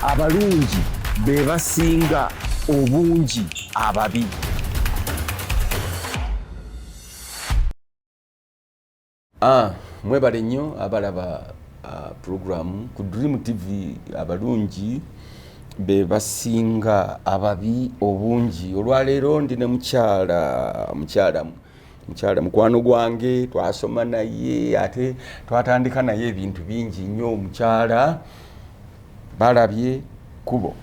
abalungi be basinga obungi ababi ah, mwebale nnyo abalaba ah, pulogulaamu ku dream tv abalungi be basinga ababi obungi olwaleero ndi ne mukyala mukyalamu mukyala mukwano gwange twasoma naye ate twatandika naye ebintu bingi nnyo mukyala balabye kubo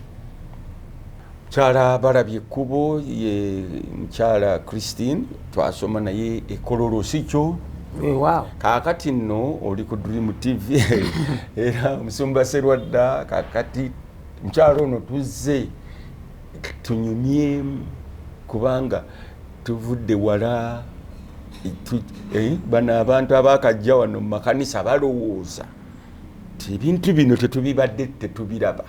mukyala balabye kubo ye mukyala christine twasoma naye ekololo sikyo wow. kakati nno oli ku dream tv era omusumba serwadda kakati mukyala ono tuzze tunyumyemu kubanga tuvudde wala eh, bano abantu abakajja wano mu makanisa balowooza ti ebintu bino tetubibadde tetubiraba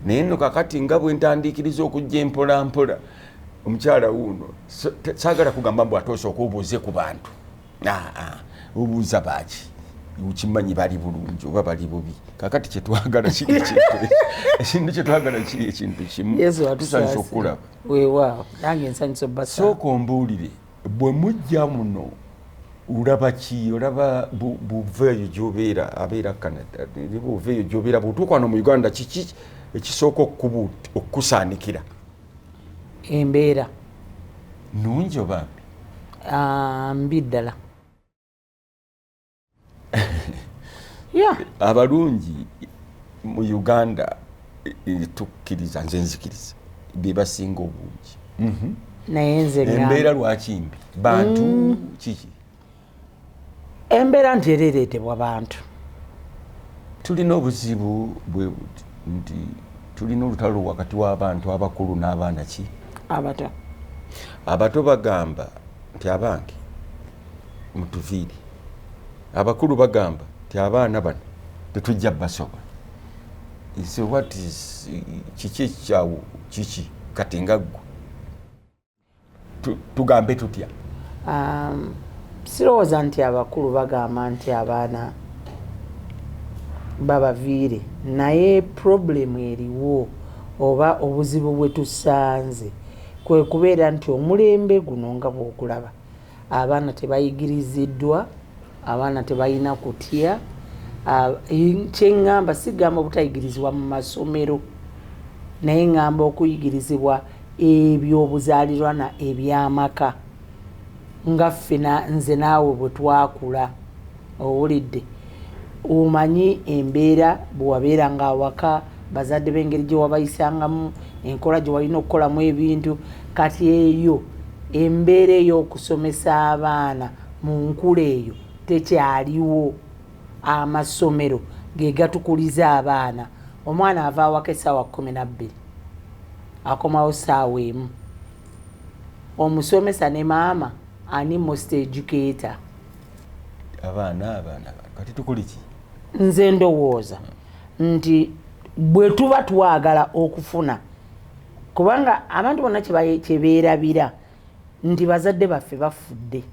naye no kakati nga bwentandikiriza okujja empolampola omukyala wuuno sagala kugamba mbu ate osooka obuuze ku bantu obuuza baaki ukimanyi bali bulungi oba bali bubi kakati kyetwagala kiri ekintu ekintu kyetwagala kiri ekintu kimu tusanisa okulaba weewaawo nange nsanyusa obasa sooka ombuulire bwe mujja muno olaba ki olaba buva eyo gyobeera abeera canada buva eyo gyobeera bwotuuka wano mu uganda kiki ekisooka okukusaanikira embeera nungi oba mbi ah, mbi ddala abalungi mu uganda tukkiriza nze nzikiriza bebasinga obungi mhm. naye nze embeera lwaki mbi bantu mm. kiki embeera nti era ereetebwa bantu tulina obuzibu bwe buti nti tulina olutalo wakati w'abantu abakulu n'abaana ki abato abato bagamba nti abange mutuviiri abakulu bagamba nti abaana bano tetujja basobola kiki ekikyawo kiki kati nga ggwe tugambe tutya um, sirowooza nti abakulu bagamba nti abaana babaviire naye problemu eriwo oba obuzibu bwe tusanze kwe kubeera nti omulembe guno nga bw'ogulaba abaana tebayigiriziddwa abaana tebalina kutya kyeŋŋamba sigamba obutayigirizibwa mu masomero naye ŋŋamba okuyigirizibwa ebyobuzaalirwana ebyamaka nga ffe nze naawe bwe twakula Owulidde, omanyi embeera bwe wabeeranga awaka, bazadde bo engeri gye wabayisangamu, enkola gye walina okukolamu ebintu. Kati eyo embeera ey'okusomesa abaana mu nkula eyo tekyaliwo. Amasomero ge gatukuliza abaana. Omwana ava awaka essaawa kkumi na bbiri, akomawo ssaawa emu. Omusomesa ne maama ani most educator? abaana abaana kati tukole ki nze ndowooza nti bwe tuba twagala okufuna kubanga abantu bonna kyebeerabira nti bazadde baffe bafudde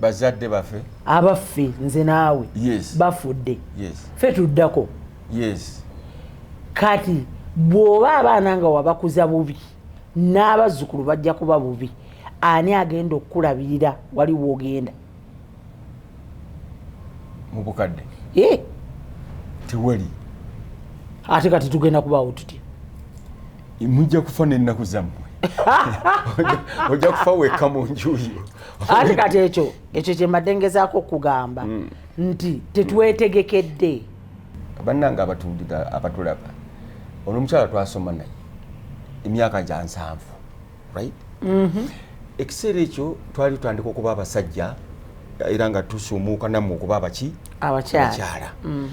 bazadde baffe abaffe nze naawe yes. bafudde yes. fe tuddako yes. kati bw'oba abaana nga wabakuza bubi n'abazzukulu bajja kuba bubi ani agenda okukulabirira wali wogenda mubukadde eh. tewali ate kati tugenda kubaawo tutya mujja kufa n'ennaku zammwe ojja kufa wekka mu njuyo ate kati ekyo ekyo kyembadde ngezaako okugamba hmm. nti tetwetegekedde bannanga abatulaba olwomukyala twasoma naye emyaka gya nsanvu right mm-hmm. ekiseera ekyo twali tutandika okuba abasajja era nga tusumuuka namu okuba abaki abakyala mm.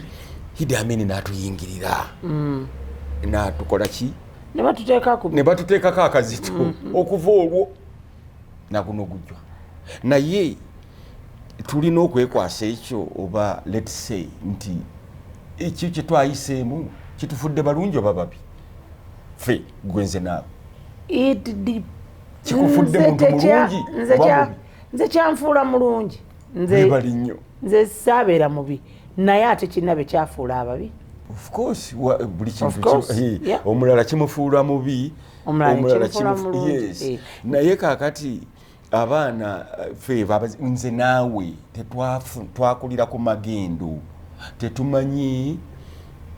hidi amini natuyingirira mm. natukola ki nebatuteekako akazito mm-hmm. okuva olwo naguno gujwa naye tulina okwekwasa ekyo oba let's say nti ekyo kyetwayiseemu kitufudde balungi oba babi fe gwe nze naawe kikufudde muntu mulungi nze kyanfuula mulungi nzebali nnyo nze saabeera mubi naye ate kinabe kyafuula ababi buli kintu omulala kimufuula mubi omulala eh. naye kakati abaana eh, fe nze naawe twakulira ku magendo tetumanyi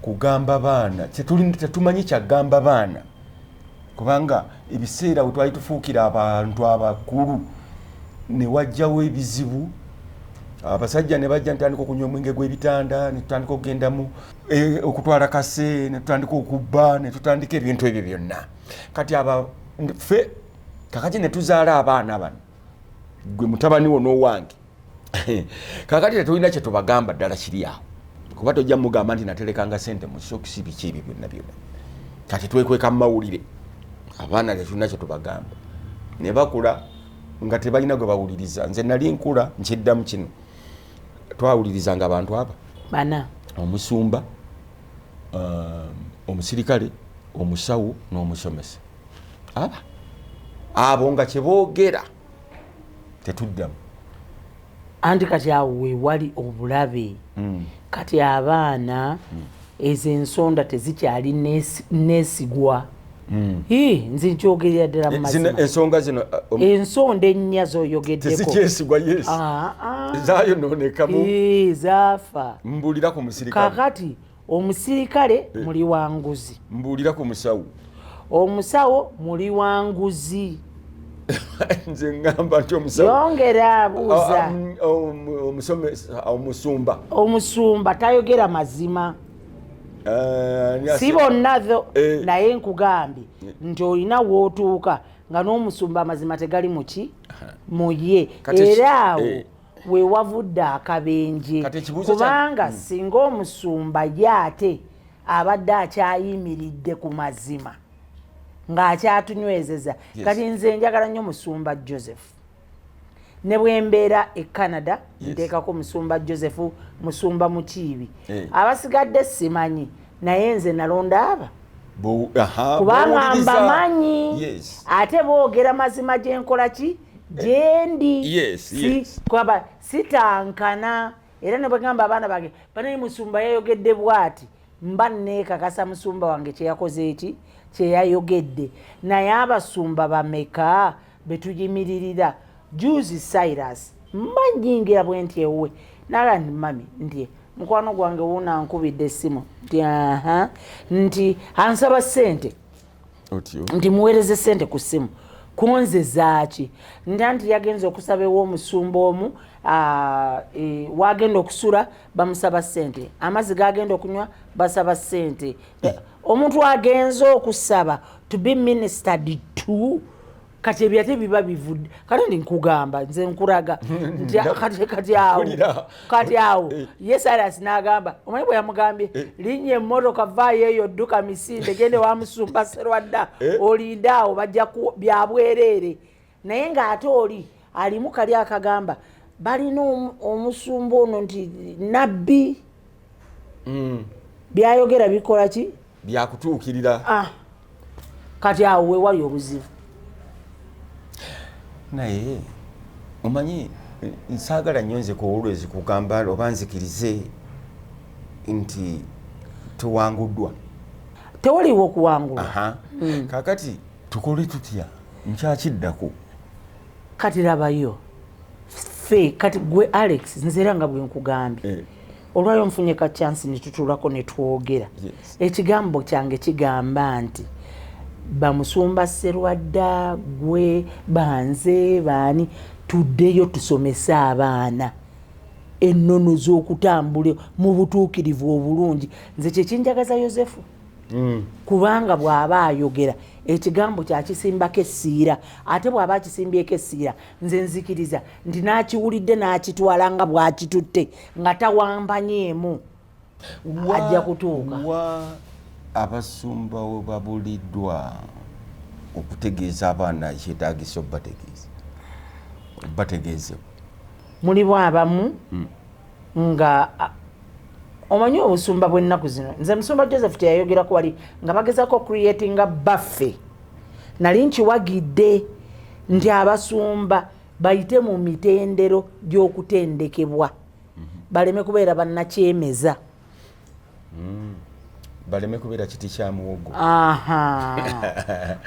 kugamba baana tetumanyi kyagamba baana kubanga ebiseera we twali tufuukira abantu abakulu ne wajjawo ebizibu abasajja ne bajja netutandika okunywa omwenge gw'ebitanda netutandika okugendamu eh, okutwala kase netutandika okubba netutandika ebintu ebyo byonna kati aba fe kakati netuzaala abaana bano gwe mutabani wo n'owange kakati tetulina kyetubagamba ddala kiri awo kuba tojja mugamba nti naterekanga sente musokisi biki ebyo byonna byona kati twekweka mumawulire abaana tetulina kyetubagamba ne bakula nga tebalina gwe bawuliriza nze nali nkula nkiddamu kino twawulirizanga abantu aba bana omusumba um, omusirikale omusawo n'omusomesa aba abo nga kyeboogera tetuddamu anti kati awo wewali obulabe hmm. kati abaana hmm. ezo ensonda tezikyali nesigwa hmm. nze nkyogerera ddala mumazimaensonga eh, zino eh, um, ensonda ennya zoyogeddekoezikyesigwa yes ah, ah. zayononekamu eh, zaafa mbulira ku musirikale kakati omusirikale eh. muli wa nguzi mbuulira ku musawo omusawo muli wa nguzi nze ngamba nti omusayongera abuuza omusumba omusumba tayogera mazima eh, si bonna tho eh. naye nkugambye nti olina wootuuka nga n'omusumba amazima tegali muki muye era awo wewavudde akabenje kubanga hmm. singa omusumba ye ate abadde akyayimiridde ku mazima ng'akyatunywezeza kati nze njagala nnyo musumba joseph ne bwembeera e canada nteekako musumba joseph musumba mukiibi eh. abasigadde simanyi naye nze nalonda aba kubanga mbamanyi ate boogera mazima gyenkola ki gyendi eh, kwaba sitankana era nebwegamba abaana bange banaye musumba yayogedde bwati mba neekakasa musumba wange kyeyakoze eki kyeyayogedde naye abasumba bameka betuyimiririra juzi cyrus mbanyingira bwe nti ewuwe nala nti mami nti mukwano gwange wuuna nkubidde essimu nti aha nti ansaba ssente nti muweereze ssente ku ssimu kunze zaaki nta nti yagenza okusaba ew'omusumba omu e, wagenda okusula bamusaba ssente amazzi gagenda okunywa basaba ssente eh. omuntu agenze okusaba to be ministered to kati ebyo ate biba bivudde kati ndi nkugamba nze nkuraga kati awo kati awo eh. ye silas n'agamba omanyi bwe yamugambye eh. linnya emmotoka vaayo eyo dduka misinde gende wamusumba serwadda eh. olinde awo bajja byabwereere naye ng'ate oli alimu kali akagamba balina omusumba ono nti nabbi mm. byayogera bikola ki byakutuukirira ah. kati awo wewali obuzibu naye omanyi nsaagala nnyo nze kuwulwezi kugamba oba nzikirize nti tuwanguddwa tewaliwo okuwangula hmm. kakati tukole tutya nkyakiddako kati labayo ffe kati gwe alex nzera nga bwenkugambye eh. olwayo nfunye ka chansi netutulako netwogera ekigambo kyange kigamba nti bamusumba serwadda gwe banze baani tuddeyo tusomese abaana ennono z'okutambula mu butuukirivu obulungi nze kyekinjagaza yosefu mm. kubanga bw'aba ayogera ekigambo kyakisimbako essiira ate bw'aba akisimbyeko essiira nze nzikiriza nti n'akiwulidde n'akitwala nga bw'akitutte nga tawambanyeemu ajja kutuuka wa abasumba we babuliddwa okutegeeza abaana kyetagisa obategeeza bategeezebwa mulimu abamu hmm. nga omanyi obusumba bwennaku zino nze musumba joseph teyayogerako wali nga bagezako okreatinga baffe nali nkiwagidde nti abasumba bayite mu mitendero gy'okutendekebwa mhm. baleme kubeera bannakyemeza mm. baleme kubeera kiti kyamuwogo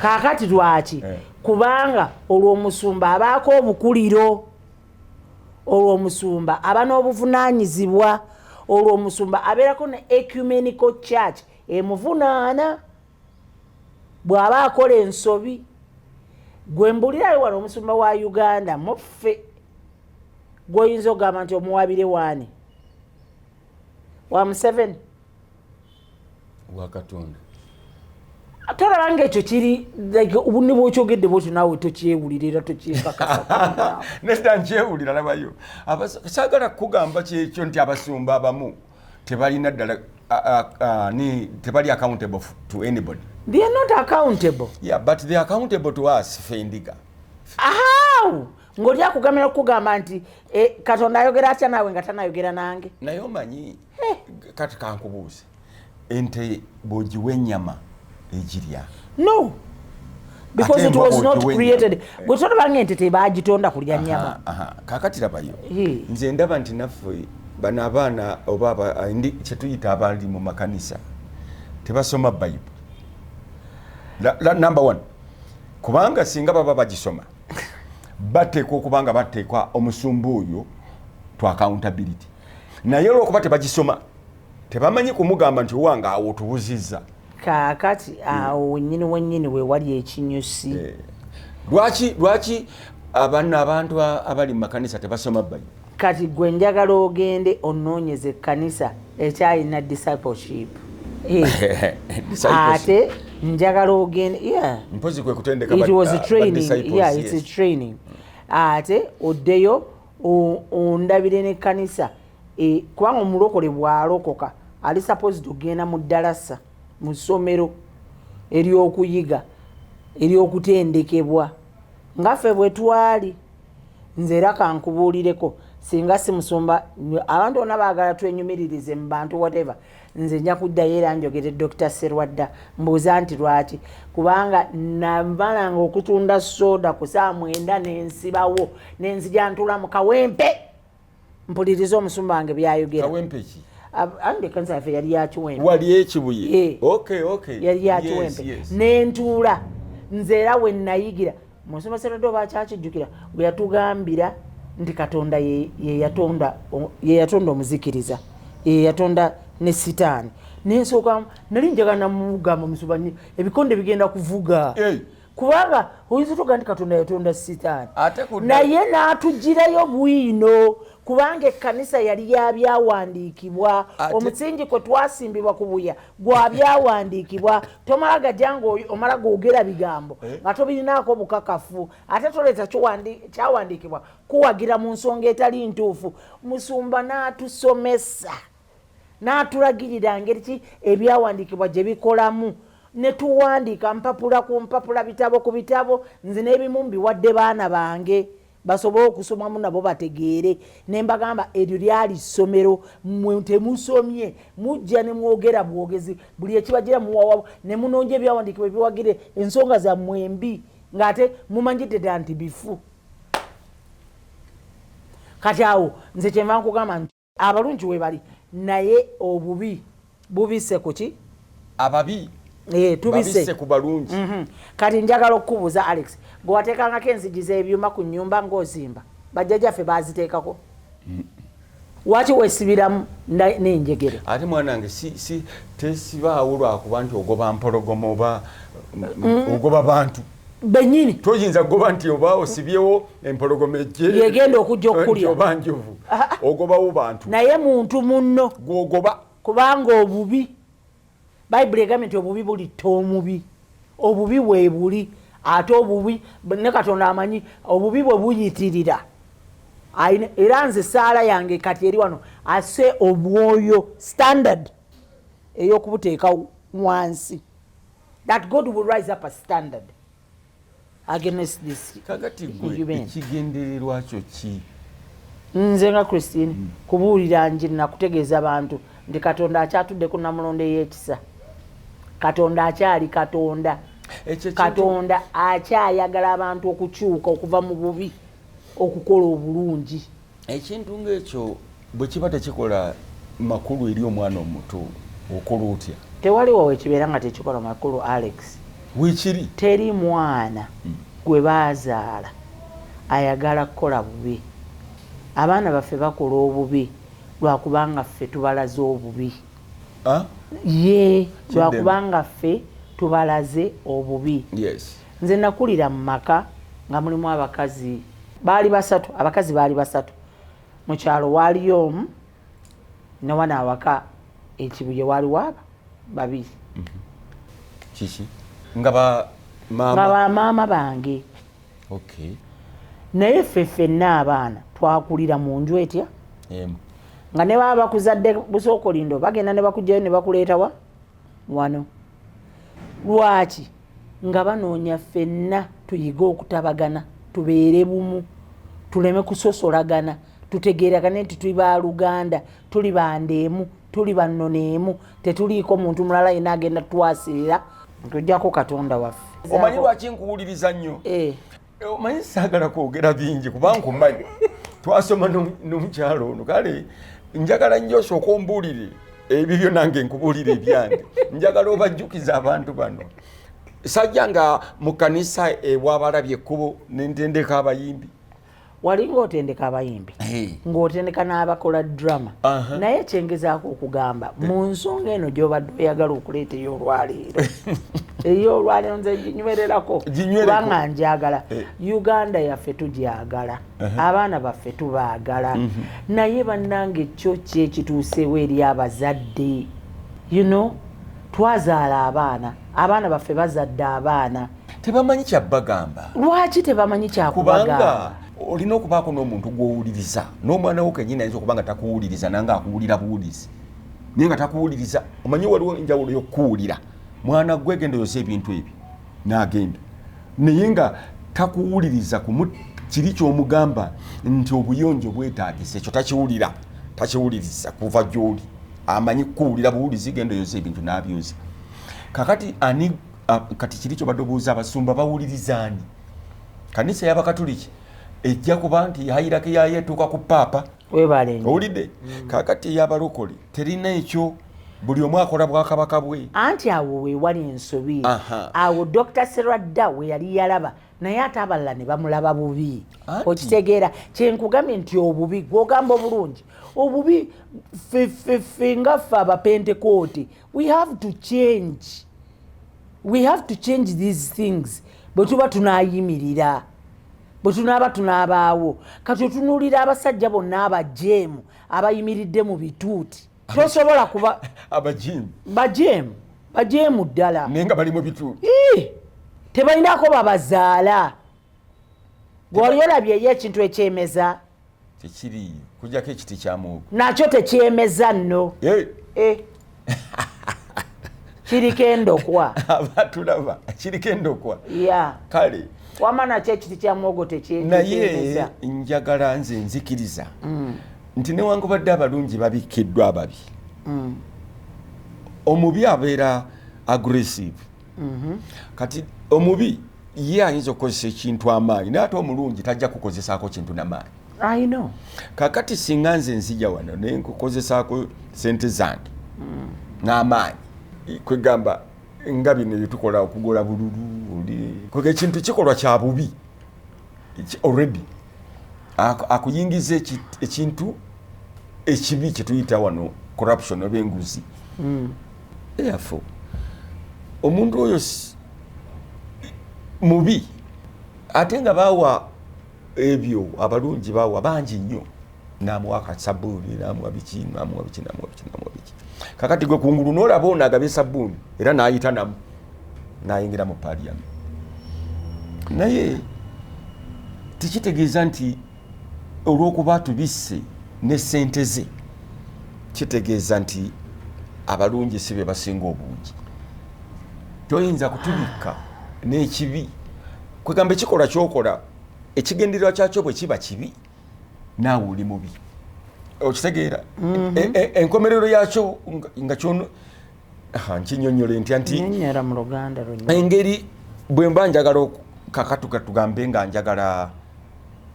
kakati lwaki eh. kubanga olwo omusumba abaako obukuliro Olwo omusumba aba n'obuvunaanyizibwa. Olwo omusumba abeerako ne Ecumenical Church emuvunaana bw'aba akola ensobi. Gwe mbulirayo wano omusumba wa Uganda muffe gw'oyinza okugamba nti omuwaabire waani? Wa Museveni? wa katonda tolaba nga ekyo kiri ne bwokyogedde bwotyo naawe tokyewulira era tokyekakasa nesita nkyewulira labayo saagala kukugamba kyekyo nti abasumba abamu tebalina ddala ni tebali accountable to anybody they are not accountable yeah but they are accountable to us fendiga how ng'oli akugamira okukugamba nti eh, katonda ayogera atya naawe nga tanayogera nange naye omanyi kati kankubuuze ente bwogiwa enyama egirya no because it was not created eh. gwe tolabanga ente tebagitonda kulya nyama kakati labayo nze ndaba nti naffe bano abaana oba eh, kyetuyita abali mu makanisa tebasoma bible number one kubanga singa baba bagisoma bateekwa okubanga bateekwa omusumba oyo to accountability naye olwokuba tebagisoma tebamanyi kumugamba nti owange awo tubuzizza kakati hmm. awo wenyini wenyini wewali ekinyusi eh. lwaki lwaki abana abantu abali mu makanisa tebasoma bayi kati gwe njagala ogende onoonyeze ekkanisa ekyalina discipleship eh. ate njagala ogende ate oddeyo ondabire ne kanisa e, kubanga omulokole bwalokoka ali supposed ogenda mu dalasa mu ssomero eryokuyiga eryokutendekebwa nga ffe bwe twali nze era kankubuulireko singa si musumba abantu bona baagala twenyumiririze mu bantu whatever Nze nja kuddayo era njogere Dokita Sserwadda mbuuza nti lwaki kubanga namalanga okutunda soda ku saa mwenda nensibawo nenzija ntula mu kawempe mpuliriza omusumba wange byayogera andekansafe yali yakiwempewali ekibuye eh. yali yakiwempe nentuula nze era wenayigira musomesa nadde oba akyakijjukira bwe yatugambira nti katonda yeyatonda yeyatonda omuzikiriza yeyatonda ne sitaani nensooka nali njagala namugamba musuba ebikonde bigenda kuvuga hey. kubanga oyinza otoga nti katonda yatonda sitaani naye n'atugirayo bwino kubanga ekkanisa yali yabyawandiikibwa omusingi kwe twasimbibwa ku buya gwa byawandiikibwa tomala gajja nga omala googera bigambo eh? nga tobirinaako bukakafu ate toleeta kyawandiikibwa kuwagira mu nsonga etali ntuufu musumba n'atusomesa n'atulagirira ngeri ki ebyawandiikibwa gye bikolamu ne tuwandiika mpapula ku mpapula bitabo ku bitabo nze n'ebimu mbiwadde baana bange basobole okusomamu nabo bategeere ne mbagamba eryo lyali ssomero mwe temusomye mujja ne mwogera bwogezi buli ekibagira muwawa ne munonja ebyawandiikibwa ebiwagire ensonga zammwe embi ng'ate mumanyidde dda nti bifu kati awo nze kyenva nkugamba nti Abalungi webali naye obubi bubise kuki ababi eh, tubise ku balungi mm -hmm. kati njagala okukubuuza Alex gwewateekangako enzigi z'ebyuma ku nyumba ng'ozimba bajjajaffe baaziteekako mm. waki wesibiramu nenjegere ate mwana wange si, si, tesibaawo lwakuba nti ogoba mpologoma oba mm. ogoba bantu benyini toyinza goba nti oba osibyewo empologoma ejjeyegenda okujja okukulya oba njovu ogobawo bantu naye muntu munno gwogoba kubanga obubi bayibuli egambye nti obubi bulitta omubi obubi webuli ate obubi ne katonda amanyi obubi bwe buyitirira era nze esaala yange kati eri wano ase obwoyo standard ey'okubuteeka wansi that God will rise up a standard against this kakati gwe ekigendererwa kyo ki nze nga christine mm. kubuulira nje nakutegeeza bantu nti katonda akyatudde ku namulondo ey'ekisa katonda akyali katonda katonda akyayagala abantu okukyuka okuva mu bubi okukola obulungi ekintu ng'ekyo bwe kiba tekikola makulu eri omwana omuto okola otya tewaliwo wekibeera nga tekikola makulu alex wekiri teri mwana hmm. gwe bazaala ayagala kukola bubi abaana baffe bakola obubi lwakubanga ffe tubalaze obubi ah? ye lwakubanga ffe tubalaze obubi Nze nakulira mu maka nga mulimu abakazi baali basatu, abakazi baali basatu mu kyalo waaliyo omu ne wano awaka ekibuye waali waaba babiri. Mhm. Kiki? Nga ba maama? Nga ba maama bange. Okay. Naye ffe ffenna abaana twakulira mu nju etya? Emu. Yeah. nga ne baba bakuzadde busookolindo bagenda ne bakugjayo ne bakuleetawa wano lwaki nga banoonya ffenna tuyige okutabagana tubeere bumu tuleme kusosolagana tutegeeragane nti tuli baaluganda tuli banda emu tuli bannono emu tetuliiko muntu mulala yena agenda twasirira okujjako katonda waffe omanyi lwaki nkuwuliriza nnyo eh. Eh, omanyi saagala kwogera bingi kubanga omanyi twasoma n'omukyalo ono kale njagala nnyo osooka ombuulire ebyo byo nange nkubuulire ebyange njagala obajjukiza abantu bano sajja nga mu kanisa ewabalabye ekkubo nentendeka abayimbi walinga otendeka abayimbi ng'otendeka n'abakola drama naye kyengezaako okugamba mu nsonga eno gy'obadde oyagala okuleeta ey'olwaleero ey'olwaleero nze ginywererako kubanga njagala eh. uganda yaffe tugyagala abaana baffe tubaagala mhm. naye bannange kyo kyekituuseewo eri abazadde you know twazaala abaana abaana baffe bazadde abaana tebamanyi kyabagamba lwaki tebamanyi kyakubagamba olina okubaako n'omuntu gwowuliriza n'omwana wo kenyini ayinza okuba nga takuwuliriza nange akuwulira buwulizi naye nga takuwuliriza omanyi waliwo enjawulo yokukuwulira mwana gwe genda oyosa ebintu ebyo nagenda naye nga takuwuliriza kiri kyomugamba nti obuyonjo bwetagisa ekyo takiwulira takiwuliriza kuva gyoli amanyi kukuwulira buwulizi genda oyosa ebintu nabyoza kakati ani Ah, kati kiri kyobadde obuuza abasumba bawulirizaani kanisa yabakatuliki ejja kuba nti yayirako yayo etuuka ku paapa owulidde mm. kakati eyabalokole terina ekyo buli omu akola bwakabaka bwe anti awo wewali ensobi awo dr seradda weyali yalaba naye ate abalala ne bamulaba bubi okitegeera kyenkugambye nti obubi gwogamba obulungi obubi fefefe ngaffe abapentekooti we have to change we have to change these things bwe tuba tunayimirira bwe tunaaba tunaabaawo kati otunuulira abasajja bonna abajeemu abayimiridde mu bituuti tosobola kuba abajeemu bajeemu bajeemu ddala naye nga bali mu bituuti tebalinako babazaala gwewali olabyeyo ekintu ekyemeza tekiriiyo kujjako ekiti kyamuwogo nakyo tekyemeza nno eh. eh. kiriko endokwa abatulaba kiriko endokwa kale wama nakyo ekiti kyamuwogo tekyenaye njagala nze nzikiriza mm. nti newangubadde abalungi babikkiddwa ababi mm. omubi abeera aggressive mhm. kati omubi ye ayinza okukozesa ekintu amaanyi naye ate omulungi tajja kukozesaako kintu namaanyi kakati singa nze nzija wano naye nkukozesaako sente zange mm. n'amaanyi kwegamba nga bino byetukola okugula bululu oli kwega ekintu kikolwa kya bubi already akuyingiza ekintu ekibi kyetuyita wano corruption oba enguzi hmm. therefore omuntu oyo mubi ate nga bawa ebyo abalungi bawa bangi nnyo namuwa ka sabuni namuwa biki namuwa biki namuwa biki namuwa biki kakati gwe kungulu nolaba ono agabye sabuni era nayita namu nayingira mu paliyamu naye tekitegeeza nti olwokuba tubisse ne sente ze kitegeeza nti abalungi si bebasinga obungi toyinza kutubikka n'ekibi kwegamba ekikolwa kyokola ekigendererwa kyakyo bwe kiba kibi naawe oli mubi okitegeera mhm. e, e, enkomerero yakyo nga kyono nkinyonyole ntya nti engeri bwe mba njagala kakatuka tugambe nga njagala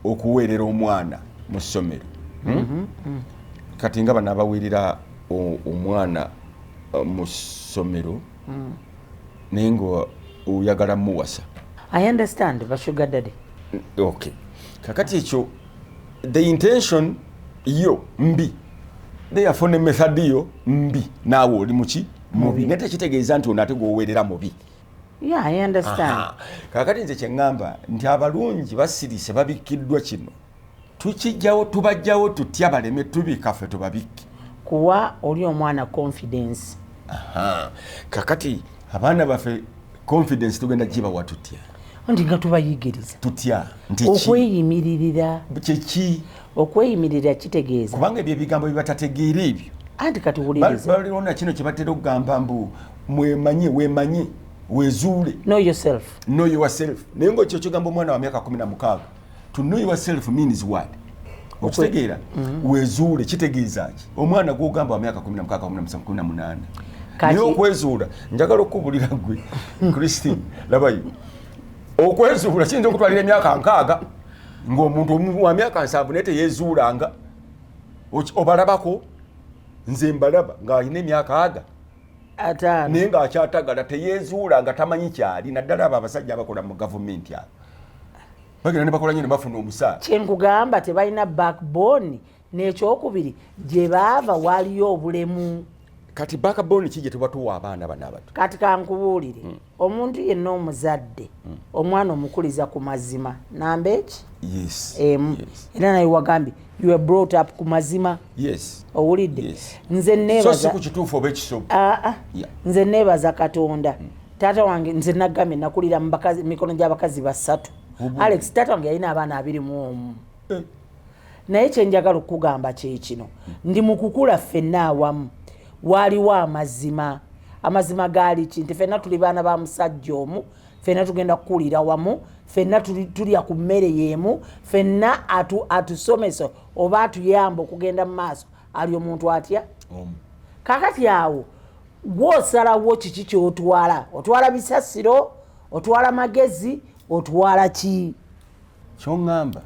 okuweerera omwana mu ssomero hmm? mhm, mhm. kati nga banabaweerera omwana uh, mu ssomero hmm. naye nga oyagala muwasa i understand ba sugar daddy okay kakati ekyo the intention yo mbi therefore ne method yo mbi naawe oli muki mubi naye tekitegeeza nti ono ate gwoweerera mubi kakati nze kyeŋŋamba nti abalungi basirise babikkiddwa kino tukijjawo tubajjawo tutya baleme tubika ffe tubabikke kuwa oli omwana confidence kakati abaana baffe confidence tugenda gibawa tutya nti nga tubayigiriza tutya okweyimiririra kyeki okweyimiririra kitegeeza kubanga ebyo ebigambo byebatategeera ebyo anti kati wulirizaona kino kyebatera okugamba mbu mwemanye wemanye wezuule no yourself no yourself naye ngaokyo kyogamba omwana wa myaka kumi na mukaaga to know yourself means what okitegeera mm-hmm. wezuule kitegeeza ki omwana gwogamba wa myaka 1 naye okwezuula njagala okukubulira gwe christine labayo okwezuula kiyinza okutwalira emyaka nkaaga ng'omuntu wa myaka nsanvu naye teyezuulanga obalabako nze mbalaba ng'alina emyaka aga ataano naye ng'akyatagala teyeezuula nga tamanyi kyali naddala abo abasajja abakola mu gavumenti abo bagenda ne bakola nyo ne bafuna omusaala kyenkugamba tebalina backbone n'ekyokubiri gye baava waaliyo obulemu kati backbone ki gye tubatuwa abaana bano abato kati kankubuulire hmm. Omuntu yenna omuzadde omwana omukuliza ku mazima namba eki emu era naye wagambye you were brought up ku mazima owulidde nze nebaza ah, ah. nze nebaza katonda mm. taata wange nze nagambye nakulira mumikono gy'abakazi basatu alex taata wange yalina abaana abiri mu omu eh. naye kyenjagala okukugamba kyekino ndi mukukula ffenna awamu waaliwo amazima amazima gaali ki nti fenna tuli baana ba musajja omu fenna tugenda kukulira wamu fenna tulya ku mmere yeemu fenna atusomesa oba atuyamba okugenda mu maaso ali omuntu atya kakati awo gwosalawo kiki kyotwala otwala bisasiro otwala magezi otwala ki kyoŋŋamba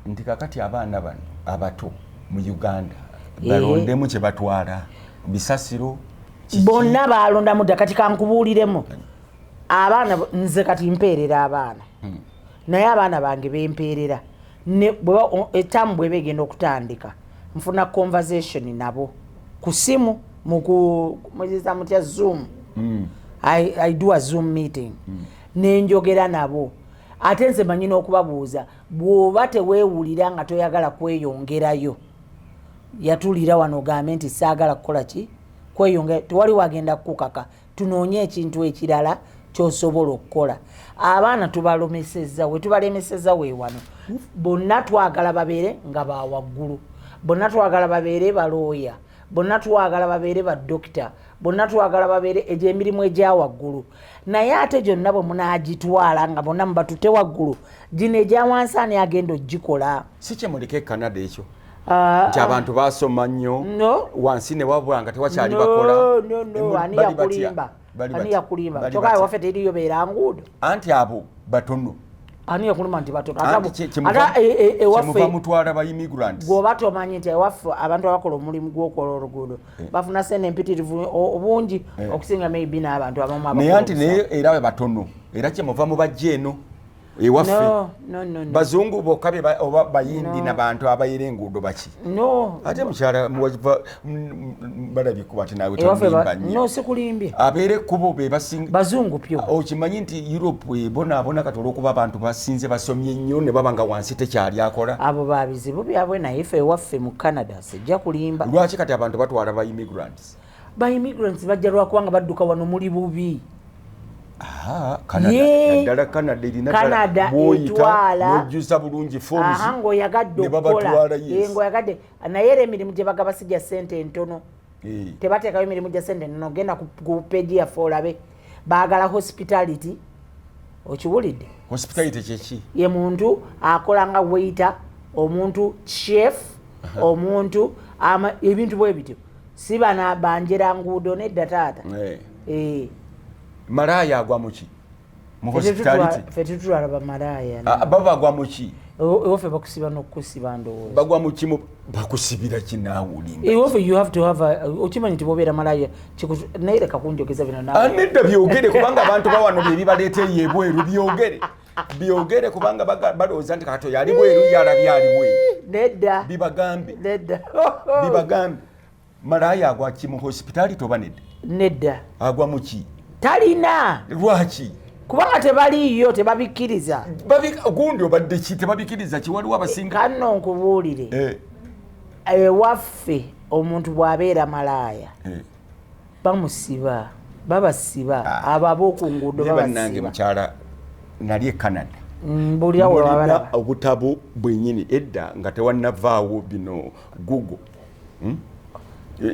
nti kakati abaana bano abato mu uganda eh. balondemu kye batwala bisasiro bonna balondamu dda kati kankubuuliremu abaana nze kati mpeerera abaana hmm. naye abaana bange bempeerera etamu bweba egenda okutandika nfuna conversation nabo ku simu mukuiza mutya zoom hmm. i do a zoom meeting hmm. ne njogera nabo ate nze manyi n'okubabuuza bw'oba teweewulira nga toyagala kweyongerayo yatulira wano ogambe nti saagala kukola ki kweyongera tewali wagenda kukukaka tunoonye ekintu ekirala kyosobola okukola abaana tubalomeseza wetubalemeseza wewano bonna twagala babeere nga bawaggulu bonna twagala babeere balooya bonna twagala babeere badokita bonna twagala babeere egyemirimu egya waggulu naye ate gyonna bwe munaagitwala nga bonna mubatute waggulu gino egya wansi ani agenda okugikola si kye mulika e canada ekyo ah, nti ah. abantu basoma nnyo wansi ne wabwanga tewakyali bakola ani yakulimba ani yakulimba kyoka waffe teriyo beera nguudo anti abo batono ani yakuluma nti batono ata e, e, ewaffe mutwala ba immigrants gwoba tomanyi nti ewaffe abantu abakola omulimu gw'okola oluguudo Eh. bafuna sente empitirivu obungi eh. okusinga maybe n'abantu abamu naye anti naye era we batono era kyemuva mu bajja eno ewaffe bazungu bokka oba bayindi nabantu abayira enguudo baki ate mukyala balabye kuba ti nawe tonimbanyosikulimbye abeera ekkubo bebazungu pyo ah, okimanyi nti europe ebonaabona kati olwokuba abantu basinze basomye nnyo ne baba nga wansi tekyali akola abo babizibu byabwe naye fe ewaffe mu canada sijja kulimba lwaki kati abantu batwala ba immigrants ba immigrants bajja lwakubanga badduka wano muli bubi naddala canada erinaoyitaojuza bulungi fomsngoyagaddeoyagadde eh, eh, naye era emirimu gye bagaba si gya sente entono eh. tebateekayo emirimu gya sente ntono genda ku peji yaffe olabe bagala hospitality okiwulidde hospitality kyeki ye muntu akola nga waiter omuntu chef omuntu ama ebintu bwe bityo si bana banjera nguudo nedda taata eh. eh. malaaya agwa muki mu hospitality fe tutwala bamalaaya ah, baba agwa muki ofe bakusiba nokusiba ndowooza bagwa mukimu bakusibira kinaawulima ofe you have to have okimanyi nti bobeera malaaya naye leka kunjogeza bino nawe anedda byogere kubanga abantu bawano bye bibaleeta eyo ebweru byogere byogere kubanga balowooza nti kato yali bweru yalabi ali bweru nedda bibagambe nedda bibagambe malaaya agwa ki mu hosipitaali toba nedda nedda agwa mu ki talina lwaki kubanga tebaliiyo tebabikkiriza gundi obadde ki tebabikkiriza ki waliwo abasinga kanno nkubuulire eh. ewaffe omuntu bwabeera malaaya eh. bamusiba babasiba ah. abo aboku nguudo babasibanange mukyala nali e canada mm, bulina obutabo bwenyini edda nga tewanavaawo bino google hmm?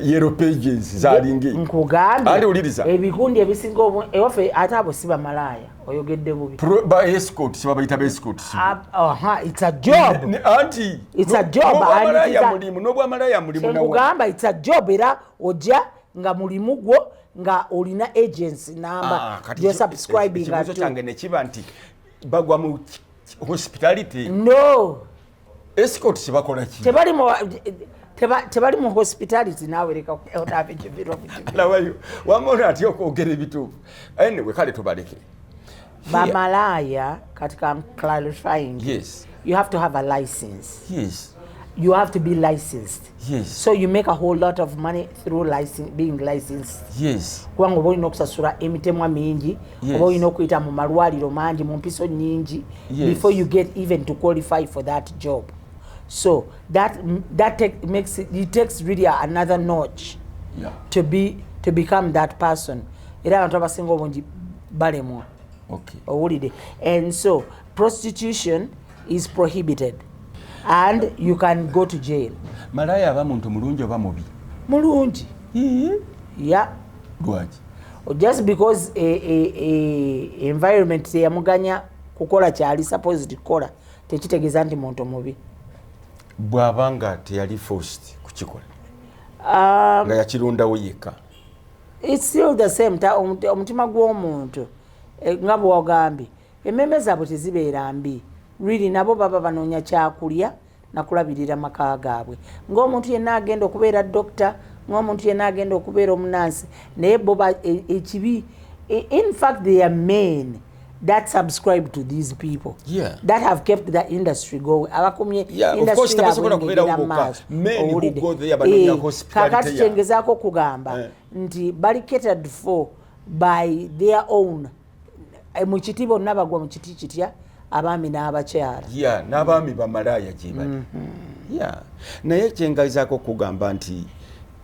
yero pages zalingi nkugambye ali uliriza ebikundi ebisinga ewaffe ate abo si bamalaaya oyogedde bubi ba escort siba bayita ba escort ah, aha it's a job ne, ne, anti it's no, a job no, and it's a mulimu no bwa malaya mulimu na ugamba it's a job era oja nga mulimu gwo nga olina agency number ah, kati you subscribing to change ne kiba anti bagwa mu hospitality no Escort kibakola ki? Tebali mu tebali mu hospitality nawe leka odabe kibiro kibiro. Lawayo. Wamona ati okwogera ebituufu. Anyway kale tubaleke. Bamalaya katika clarifying. Yes. You have to have a license. Yes. You have to be licensed. Yes. So you make a whole lot of money through license, being licensed. Yes. Kubanga oba olina okusasula emitemwa mingi yes. oba olina okuyita mu malwaliro mangi mu mpiso nyingi yes. before you get even to qualify for that job. So that, that take, makes it, it takes really another notch yeah. to, be, to become that person. Era abantu abasinga obungi balemwa. Okay. Owulide. And so prostitution is prohibited and you can go to jail malaya aba muntu mulungi oba mubi mulungi ya lwaki just because e, e, e, environment teyamuganya kukola kyali supposed kukola tekitegeeza nti muntu mubi bwaba nga teyali forced kukikola um, nga yakirundawo yekka it's still the same omutima gw'omuntu eh, nga bwewagambye Emmeeme zaabwe tezibeera mbi, really, nabo baba banoonya kyakulya na kulabirira maka gaabwe ng'omuntu yenna agenda okubeera dokita, ng'omuntu yenna agenda okubeera omunaansi, naye bo ekibi, in fact they are men that subscribe to these people yeah. that have kept the industry going abakumye yeah, industry kakati kyengezaako okugamba eh. nti bali catered for by their own eh, mu kiti bonna bagwa mu kiti kitya abaami n'abakyala ya n'abaami bamalaaya gye bali mm-hmm. ya naye kyengazaako okugamba nti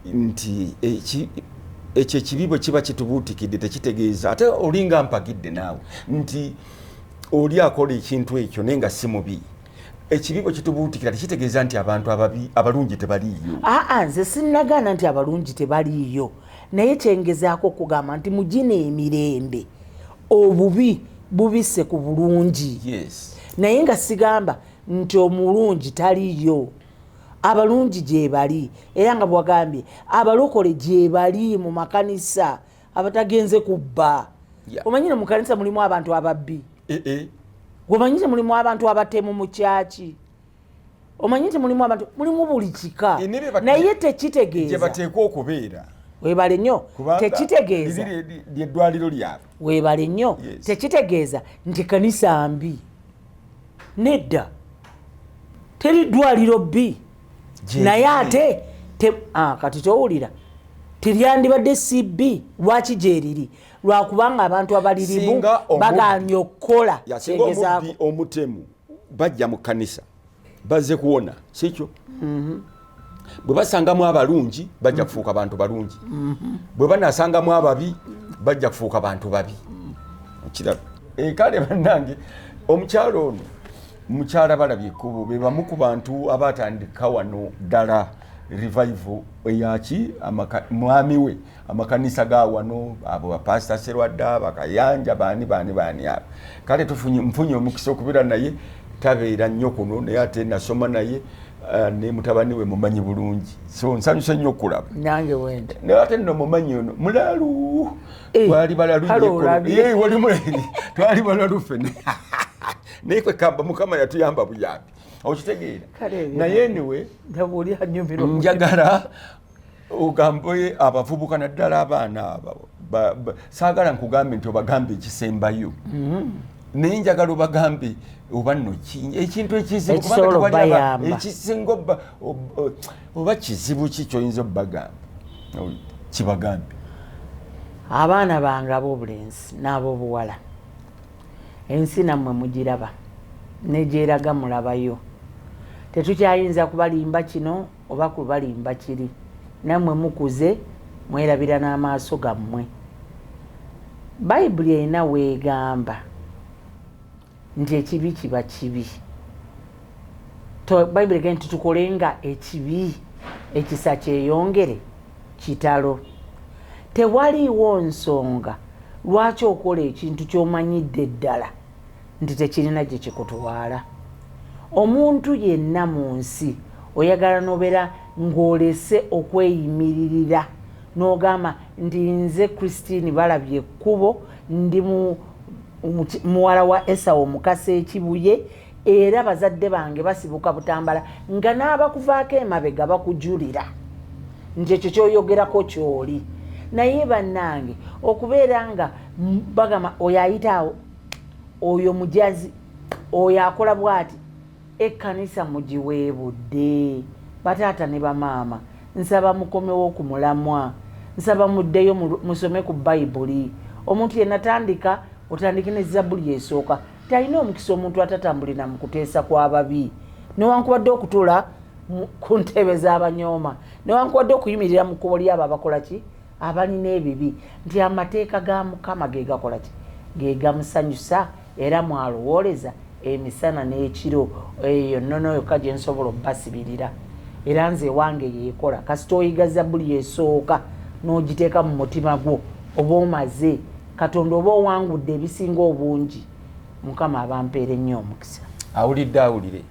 nti ekyo ekibi bwe kiba kitubuutikidde tekitegeeza ate olinga mpagidde naawe nti oli akola ekintu ekyo naye nga si mubi ekibi bwe kitubuutikira tekitegeeza nti abantu ababi abalungi tebaliiyo aa nze sinnagaana nti abalungi tebaliiyo Naye kyengezaako okugamba nti mugina emirembe obubi bubise ku bulungi yes. Naye nga sigamba nti omulungi taliyo abalungi gyebali era nga bwagambye abalokole gyebali mu makanisa abatagenze kubba yeah. Omanyi no mukanisa mulimu abantu ababbi eh -eh. Gwemanyi te mulimu abantu abatemu mu kyaki omanyi nti mulimu abantu mulimu buli kika naye tekitegeezaebateekwa okubeera webale nnyo tekitegeeza lyeddwaliro lyabwe webale nnyo tekitegeeza nti kanisa mbi nedda teri ddwaliro bbi naye ate ah, kati towulira teryandibadde cb lwaki gyeriri lwakubanga abantu abalirimu baganye okukola omutemu bajja mu kkanisa bazze kuwona sikyo mhm. bwe basangamu abalungi bajja kufuuka bantu balungi mhm. bwe banasangamu ababi bajja kufuuka bantu babi okiraba eh, kale bannange omukyalo ono mukyala balabye ekkubo be bamu ku bantu abatandika wano ddala revival eyaki mwami we amakanisa ga wano abo bapasita serwadda bakayanja baani baani baani abo kale nfunye omukisa okubeera naye tabeera nnyo kuno naye ate nasoma naye eh, ne mutabani we mumanyi bulungi so nsanyuse nnyo okulaba nange wende naye ate nno mumanyi ono mulalu eh, twali balalu twali balalu fene naye kwekamba mukama yatuyamba buyambi okitegeera naye niwe njagala ogambe abavubuka naddala abaana abo saagala nkugambe nti obagambe ekisembayo mm-hmm. naye njagala obagambe oba no ekintu ekizibuekisinga oba kizibu ki kyoyinza obagamba kibagambe abaana bange ab'obulenzi n'ab'obuwala ensi nammwe mugiraba negyeraga mulabayo tetukyayinza kubalimba kino oba kubalimba kiri namwe mukuze mwerabira n'amaaso gammwe bayibuli erina weegamba nti ekibi kiba kibi bayibuli egamba nti tukole nga ekibi ekisa kyeyongere kitalo tewaliiwo nsonga lwaki okola ekintu ky'omanyidde ddala nti tekirina gye kikutwala. Omuntu yenna mu nsi oyagala n'obeera ng'olese okweyimiririra n'ogamba nti nze Christine Balabye Ekkubo ndi muwala wa Esau Mukasa e Kibuye era bazadde bange basibuka Butambala nga n'abakuvaako emabega bakujulira nti ekyo ky'oyogerako ky'oli. Naye bannange okubeera nga bagamba oyo ayita awo. oyo mujazi oyo akola bwati ekkanisa mugiweebudde bataata ne bamaama nsaba mukomewo ku mulamwa nsaba muddeyo musome ku bayibuli omuntu yenatandika otandike ne zabbuli esooka talina omukisa omuntu atatambulira mu kuteesa kw'ababi newankubadde okutula ku ntebe z'abanyooma newankubadde okuyimirira mu kkubo ly'abo abakola ki abalina ebibi nti amateeka ga Mukama ge gakola ki? Ge gamusanyusa, era mw'alowooleza emisana n'ekiro. Eyo nnono yokka gye nsobola okubasibirira, era nze ewange y'ekola. Kasita oyiga Zabbuli esooka n'ogiteeka mu mutima gwo, oba omaze Katonda, oba owangudde ebisinga obungi. Mukama abampeere nnyo omukisa. Awulidde awulire.